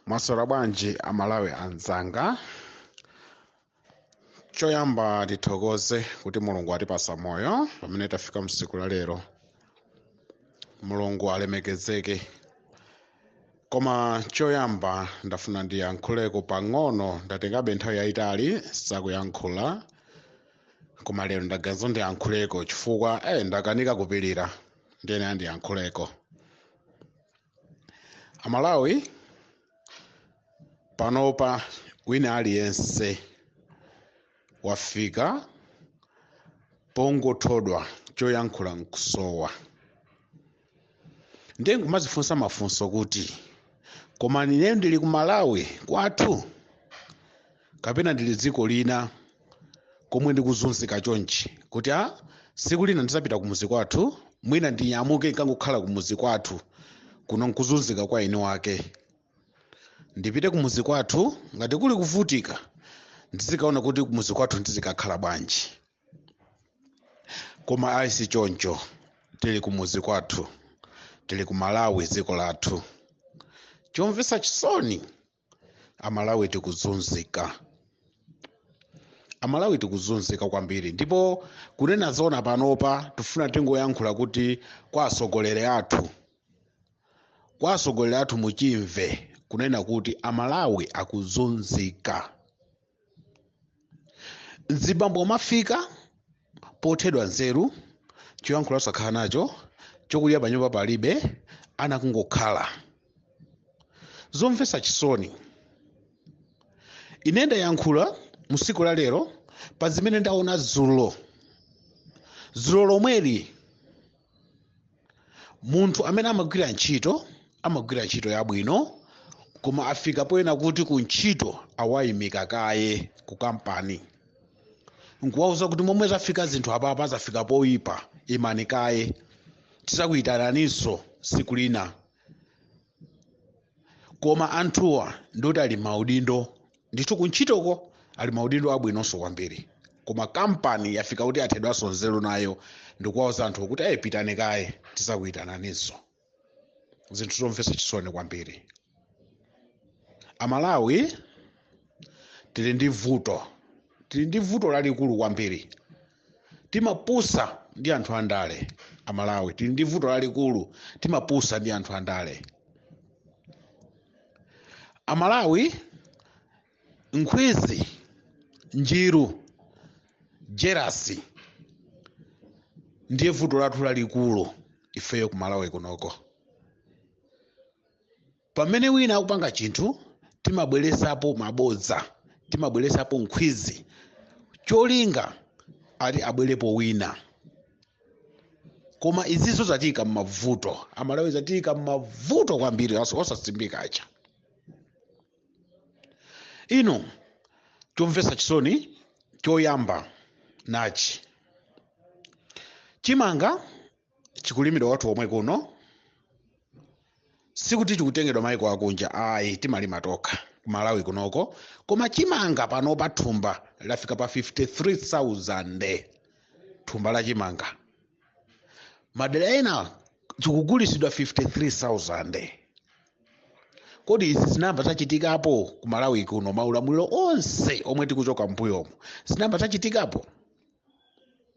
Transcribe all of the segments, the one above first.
mwaswera bwanji amalawi anzanga choyamba tithokoze kuti mulungu atipasa moyo pamene tafika msiku la lero mulungu alemekezeke koma choyamba ndafuna ndiyankhuleko pang'ono ndatengabe nthawi yayitali sakuyankhula koma lero ndaganiza ndiyankhuleko chifukwa eh, ndakanika kupilira ndiyene andiyankhuleko amalawi panopa wina aliyense wafika pongothodwa choyankhula nkusowa ndiye nkumazifunsa mafunso kuti koma ine ndili ku malawi kwathu kapena ndili dziko lina komwe ndikuzunzika chonchi kuti a siku lina ndizapita kumuzi kwathu mwina ndinyamuke nkangokhala kumuzi kwathu kuno nkuzunzika kwa eni wake ndipite kumuzi kwathu ngati kuli kuvutika ndizikaona kuti kumuzi kwathu ndizikakhala bwanji koma ayi si choncho tili kumuzi kwathu tili ku malawi dziko lathu chomvetsa chisoni amalawi tikuzunzika amalawi tikuzunzika kwambiri ndipo kunena zona panopa tifuna tingoyankhula kuti kwa atsogoleri athu kwa atsogoleri athu muchimve kunena kuti amalawi akuzunzika mzibambo umafika pothedwa nzeru choyankhula osakhala nacho chokudya panyumba palibe ana kungokhala zomvetsa chisoni ine ndayankhula mu tsiku la lero pa zimene ndaona dzulo dzulo lomweli munthu amene amagwira ntchito amagwira ntchito yabwino koma afika poyenera kuti ku ntchito awayimika kaye ku kampani nkuwauza kuti momwe zafika zinthu apapa zafika poyipa imani kaye tizakuitananinso siku lina koma anthuwa ndoti ali maudindo ndithu kuntchitoko ali maudindo abwinonso kwambiri koma kampani yafika kuti yathedwanso nzeru nayo ndikuwauza anthu kuti ayi pitani kaye tizakuyitananiso zinthu zomvetsa chisoni kwambiri amalawi tili ndi vuto tili ndi vuto lalikulu kwambiri timapusa ndi anthu andale amalawi tili ndi vuto lalikulu timapusa ndi anthu andale amalawi nkhwizi njiru jerasi ndiye vuto lathu lalikulu ifeyo kumalawi kunoko Pamene wina akupanga chinthu, timabweresapo mabodza, timabweresapo nkhwizi, cholinga ati abwerepo wina. Koma izizo zatiika m'mavuto, Amalawi zatiika m'mavuto kwambiri, osasimbika aja. Ino chomvetsa chisoni choyamba nachi, chimanga chikulimidwa kwathu komwe kuno sikuti chikutengedwa maiko akunja ayi timalima tokha ku malawi kunoko koma chimanga panopa thumba lafika pa 53000 thumba la chimanga madera ena chikugulisidwa 53000 kodi izi zinayamba zachitikapo ku malawi kuno maulamuliro onse omwe tikuchoka mbuyomo zinayamba zachitikapo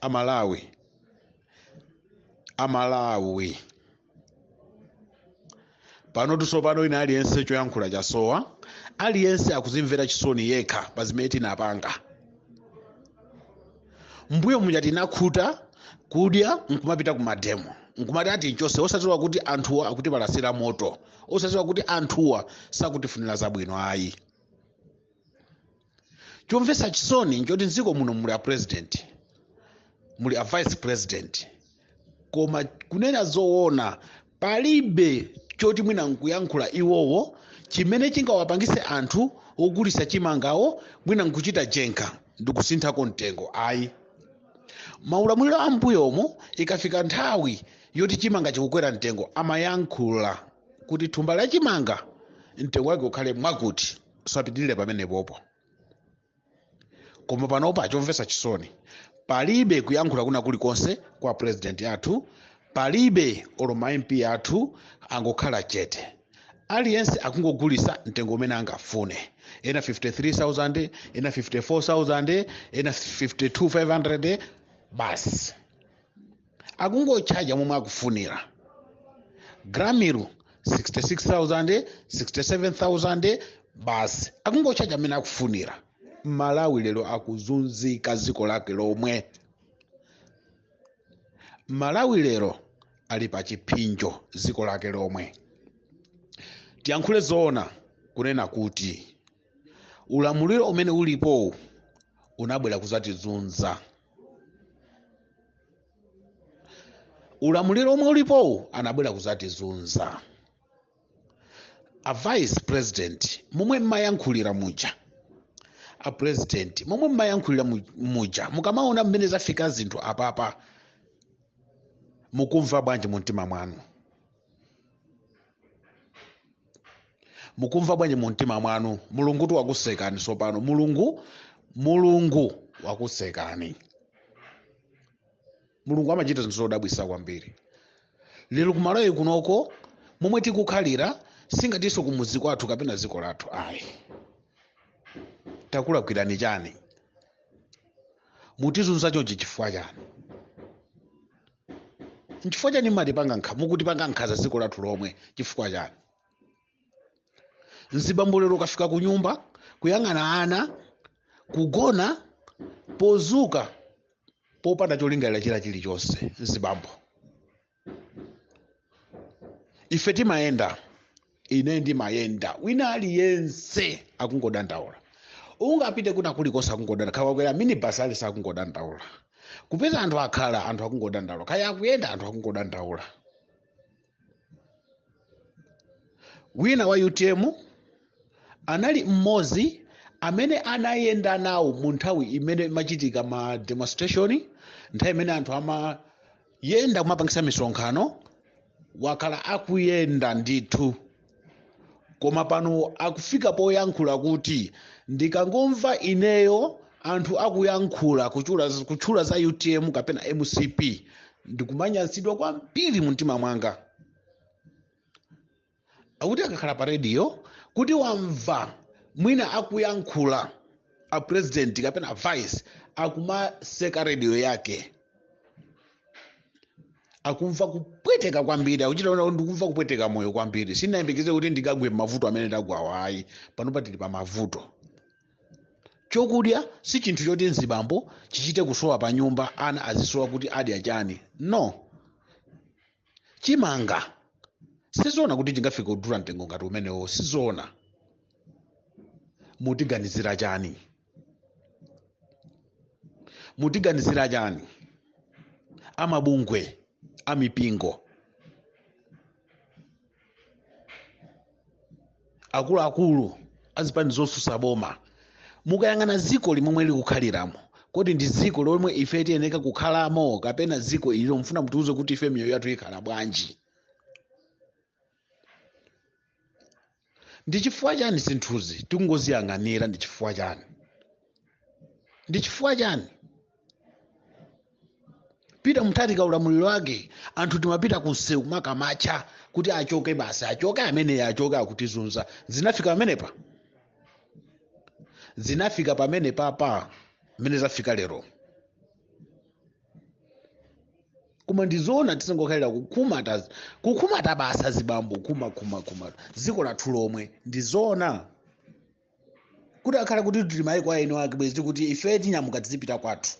amalawi amalawi pano tsopano wina aliyense choyankhula chasowa aliyense akuzimvera chisoni yekha pa zimene tinapanga mbuyo muja tinakhuta kudya nkumapita ku mademo nkumati ati mchotse osadziwa kuti anthuwa akutipalasira moto osadziwa kuti anthuwa sakutifunira zabwino ayi chomvetsa chisoni nchoti mdziko muno muli a president muli a vice president koma kunena zoona palibe choti mwina nkuyankhula iwowo chimene chingawapangise anthu ogulisa chimangawo mwina nkuchita njenkha ndikusinthako mtengo ayi maulamuliro a mbuyomo ikafika nthawi yoti chimanga chikukwera mtengo amayankhula kuti thumba la chimanga mtengo wake ukhale mwakuti sapitirire pamenepopo koma panopa chomvetsa chisoni palibe kuyankhula kwina kulikonse kwa president athu palibe olo ma mp athu angokhala chete aliyense akungogulisa mtengo umene angafune ena 53000 ena 54000 ena 52500 basi akungotchaja momwe akufunira gramiru 66000 67000 basi akungotchaja mmene akufunira malawi lero akuzunzika dziko lake lomwe malawi lero ali pa chiphinjo dziko lake lomwe tiyankhule zoona kunena kuti ulamuliro umene ulipowu unabwera kuzatizunza ulamuliro omwe ulipowu anabwera kuzatizunza a vice president momwe mmayankhulira muja a president momwe mmayankhulira muja mukamaona mmene zafika zinthu apapa mukumva bwanji mu mtima mwanu mukumva bwanji mu mtima mwanu mulungutu wakusekani sopano mulungu mulungu wakusekani mulungu amachita zinthu zodabwisa kwambiri lero kumalawi kunoko momwe tikukhalira singatinso kumuzi kwathu kapena dziko lathu ayi takulakwirani chani mutizunza chonchi chifukwa chani nchifukwa chani mmatipanga nkha mukutipanga nkhanza dziko lathu lomwe chifukwa chani mzibambo lero ukafika ku nyumba kuyang'ana ana kugona pozuka popanda cholingalira china chilichonse mzibambo ife timayenda ine ndimayenda wina aliyense akungodandaula ungapite kuna kulikonse akungodandaula kaya wakwera minibasi aliyense akungodandaula kupeza anthu akhala anthu akungodandaula kaya akuyenda anthu akungodandaula wina wa utm anali mmodzi amene anayenda nawo mu nthawi imene machitika ma demonstration nthawi imene anthu ama yenda kumapangisa misonkhano wakhala akuyenda ndithu koma pano akufika poyankhula kuti ndikangomva ineyo anthu akuyankhula kutchula za utm kapena mcp ndikumanyansidwa kwambiri mu mtima mwanga akuti akakhala pa radio kuti wamva mwina akuyankhula a president kapena vice akumatseka radio yake akumva kupweteka kwambiri akuchita kuti ndikumva kupweteka moyo kwambiri sinayembekeze kuti ndikagwe mavuto amene ndagwawa ayi panopa tili pa mavuto chokudya si chinthu choti mzibambo chichite kusowa pa nyumba ana azisowa kuti adya chani no chimanga sizoona kuti chingafike kudula mtengo ngati umenewo sizoona mutiganizira chani mutiganizira chani amabungwe amipingo akuluakulu azipani zosusa boma mukayang'ana dziko limomwe tikukhaliramo kodi ndi dziko lomwe ife tiyeneka kukhalamo kapena dziko ililo mfuna mutiuze kuti ife miyoyo yathu ikhala bwanji ndi chifukwa chani zinthuzi tikungoziyang'anira ndi chifukwa chani ndi chifukwa chani peter mutharika ulamuliro wake anthu timapita ku msewu kumakamacha kuti achoke basi achoke ameneyo achoke akutizunza zinafika pamenepa zinafika pamenepapa mmene zafika lero koma ndizoona tizingokhalira kukhumata kukhumata basi azibambo kumakhumakhumata dziko lathu lomwe ndizoona kutakhala kuti tili maiko a eni ake bwezi kuti ife tinyamuka tizipita kwathu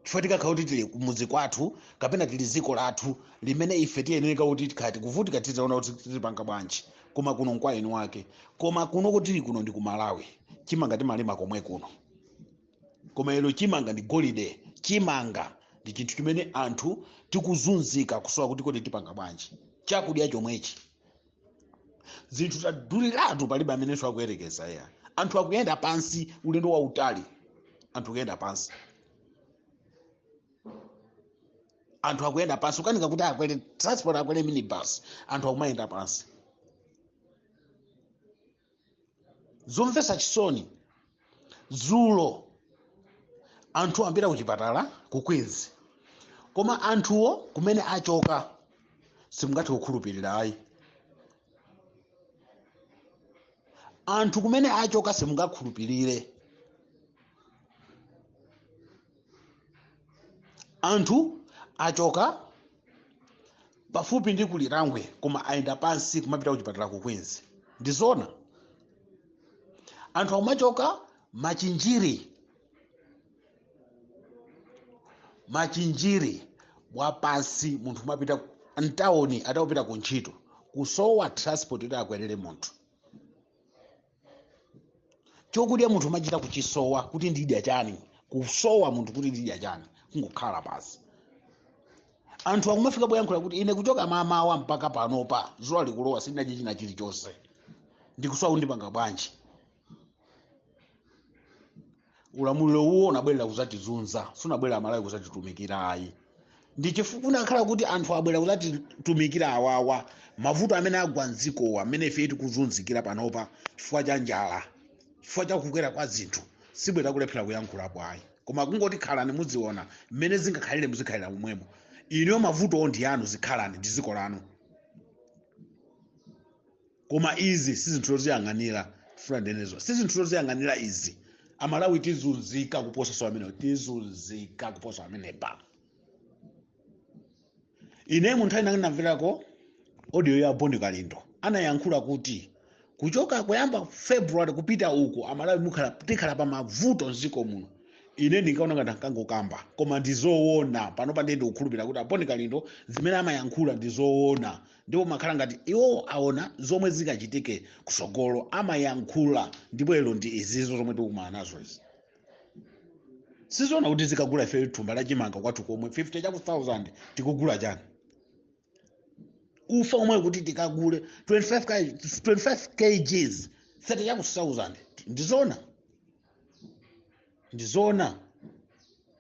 chifukwa tikakhala kuti tili kumudzi kwathu kapena tili dziko lathu limene ife tiyeneka kuti tikhala tikuvutika tizaona kuti tizipanga bwanji koma kuno nkwa eni wake koma kuno kuti tili kuno ndi ku malawi chimanga timalima komwe kuno koma lero chimanga ndi golide chimanga ndi chinthu chimene anthu tikuzunzika kusowa kuti kodi tipanga bwanji chakudya chomwechi zinthu zaduliratu palibe amenenso akuyerekeza ya anthu akuyenda pansi ulendo wautali anthu akuyenda pansi anthu akuyenda pansi ukanika kuti akwere transport akwere minibus anthu akumayenda pansi zomvetsa chisoni dzulo anthu amabwera ku chipatala ku queens koma anthuwo kumene achoka simungathe kukhulupirira ayi anthu kumene achoka simungakhulupirire anthu achoka pafupi ndi ku lirangwe koma ayenda pansi kumapita kuchipatala ku queens ndizoona anthu akumachoka machinjiri machinjiri wapansi munthu kumapita mtawuni ati akupita ku ntchito kusowa transport yoti akwerere munthu chokudya munthu umachita kuchisowa kuti ndidya chani kusowa munthu kuti ndidya chani kungokhala pansi anthu akumafika poyankhula kuti ine kuchoka mamawa mpaka panopa zuwa likulowa sindinadye china chilichonse ndikusowa kuti ndipanga bwanji ulamuliro uwo unabwerera kuzatizunza sunabwerera malawi kuzatitumikira ayi ndi chifukwa unakhala kuti anthu abwera kuzatitumikira awawa mavuto amene agwa mdzikowa amene ife tikuzunzikira panopa chifukwa cha njala chifukwa cha kukwera kwa zinthu sibwera kulephera kuyankhulapo ayi koma kungoti khalani muziwona mmene zingakhalire muzikhalira momwemo inuyo mavutowo ndi anu zikhalani ndi dziko lanu koma izi si zinthu zoziyang'anira ndifuna ndinenenso si zinthu zoziyang'anira izi amalawi tizunzika kuposaso amenewo tizunzika kuposa amenepa ine munthu ine namverako audio ya boni kalindo anayankhula kuti kuchoka kuyamba february kupita uko amalawi mukhala tikhala pa mavuto mziko muno ine ndinkaona ngati ankangokamba koma ndizoona panopa ndiye ndikukhulupirira kuti aboni kalindo zimene amayankhula ndizoona ndipo amakhala ngati iwo aona zomwe zikachitike kusogolo amayankhula ndipo lero ndi izizo zomwe tikukumana nazo izi sizoona kuti tizikagula ife thumba la chimanga kwathu komwe 50 chaku 1000 tikugula chani ufa omwe kuti tikagule 25 kg 25 kgs 30 chaku 1000 ndizoona ndizoona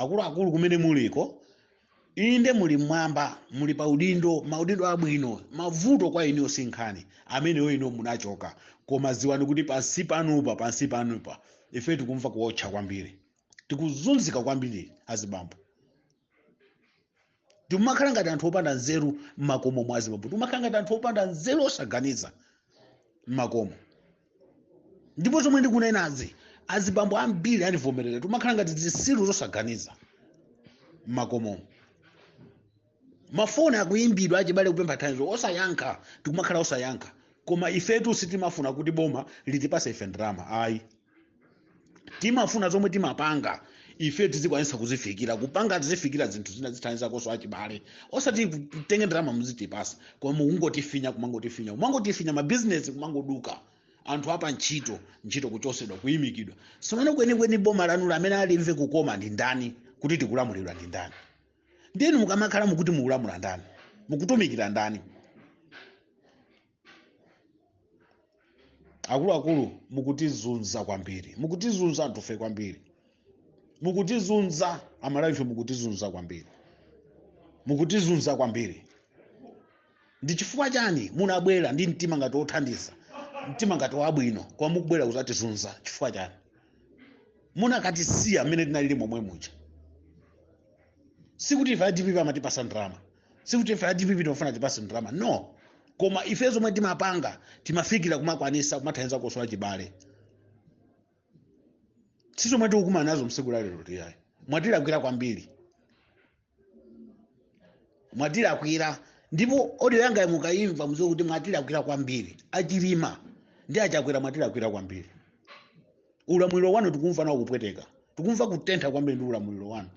akuluakulu kumene muliko inde muli mmwamba muli pa udindo maudindo abwino mavuto kwa inuyo si nkhani ameneyo inu munachoka koma ziwani kuti pansi panopa pansi panopa ife tikumva kuotcha kwambiri tikuzunzika kwambiri azibambo tikumakhala ngati anthu opanda nzeru m'makomo mwa azibambo timakhala ngati anthu opanda nzeru osaganiza m'makomo ndipo zomwe ndikunenazi azibambo ambiri andivomerera timakhala ngati zisiru zosaganiza m'makomo mafoni akuyimbidwa achibale kupempha thandizo osayankha tikumakhala osayankha koma ifetu sitimafuna kuti boma litipase ife ndalama ayi timafuna zomwe timapanga ife tizikwanisa kuzifikira kupanga tizifikira zinthu zina tizithandizakonso achibale osati mutenge ndalama muzitipasa koma mukungotifinya kumangotifinya kumangotifinya mabizinesi kumangoduka anthu apa ntchito ntchito kuchosedwa kuyimikidwa sopano kwenikweni boma lanu amene alimve kukoma ndi ndani kuti tikulamulidwa ndi ndani ndinu mukamakhala mukuti mukulamula ndani mukutumikira ndani akuluakulu mukutizunza kwambiri mukutizunza anthufe kwambiri mukutizunza amalawife mukutizunza kwambiri mukutizunza kwambiri ndi chifukwa chani munabwera ndi mtima ngati wothandiza mtima ngati wabwino koma mukubwera kuzatizunza chifukwa chani mukanatisiya mmene tinalili momwe muja sikuti ife adpp amatipasa ndalama sikuti ife adpp timafuna atipase ndalama no koma ife zomwe timapanga timafikira kumakwanisa kumathandiza kosowa chibale si zomwe tikukumana nazo msiku la lero tiyayi mwatilakwira kwambiri mwatilakwira ndipo odiyo yanga mukayimva muziwe kuti mwatilakwira kwambiri achilima ndi achakwera mwatilakwira kwambiri ulamuliro wanu tikumva nawo kupweteka tikumva kutentha kwambiri ndi ulamuliro wanu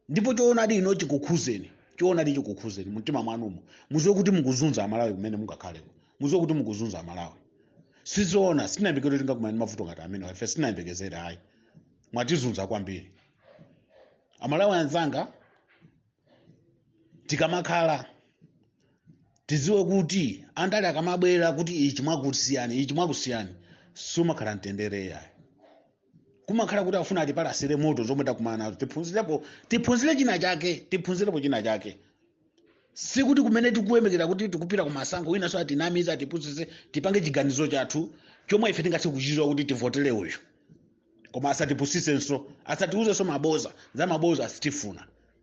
ndipo choonadi ino chikukhuzeni choonadi chikukhuzeni mumtima mwanumo muziwe kuti mukuzunza amalawi kumene mungakhaleko muziwe kuti mukuzunza amalawi sizoona sitinayembekezere tingakumana ndi mavuto ngati amenewa ife sitinayembekezere ayi mwatizunza kwambiri amalawi anzanga tikamakhala tiziwe kuti andale akamabwera kuti ichi mwakusiyani ichi mwakusiyani simukhala mtendere yayi kumakhala kuti afuna atipalasire moto zomwe takumana nazo tiphunzirepo tiphunzire china chake tiphunzirepo china chake sikuti kumene tikuyembekera kuti tikupita ku masankho winanso atinamize atipusise tipange chiganizo chathu chomwe ife tingathe kuchichita kuti tivotere uyu koma asatipusisenso asatiuzenso maboza za maboza sitifuna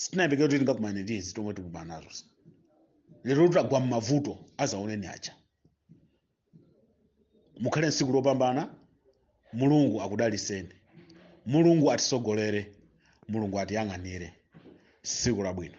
sitinayembekezere kuti tingakumane ndi izi zomwe tikumana nazozi lero tagwa m'mavuto azaoneni aja mukhale nsiku lopambana mulungu akudaliseni mulungu atisogolere mulungu atiyang'anire siku labwino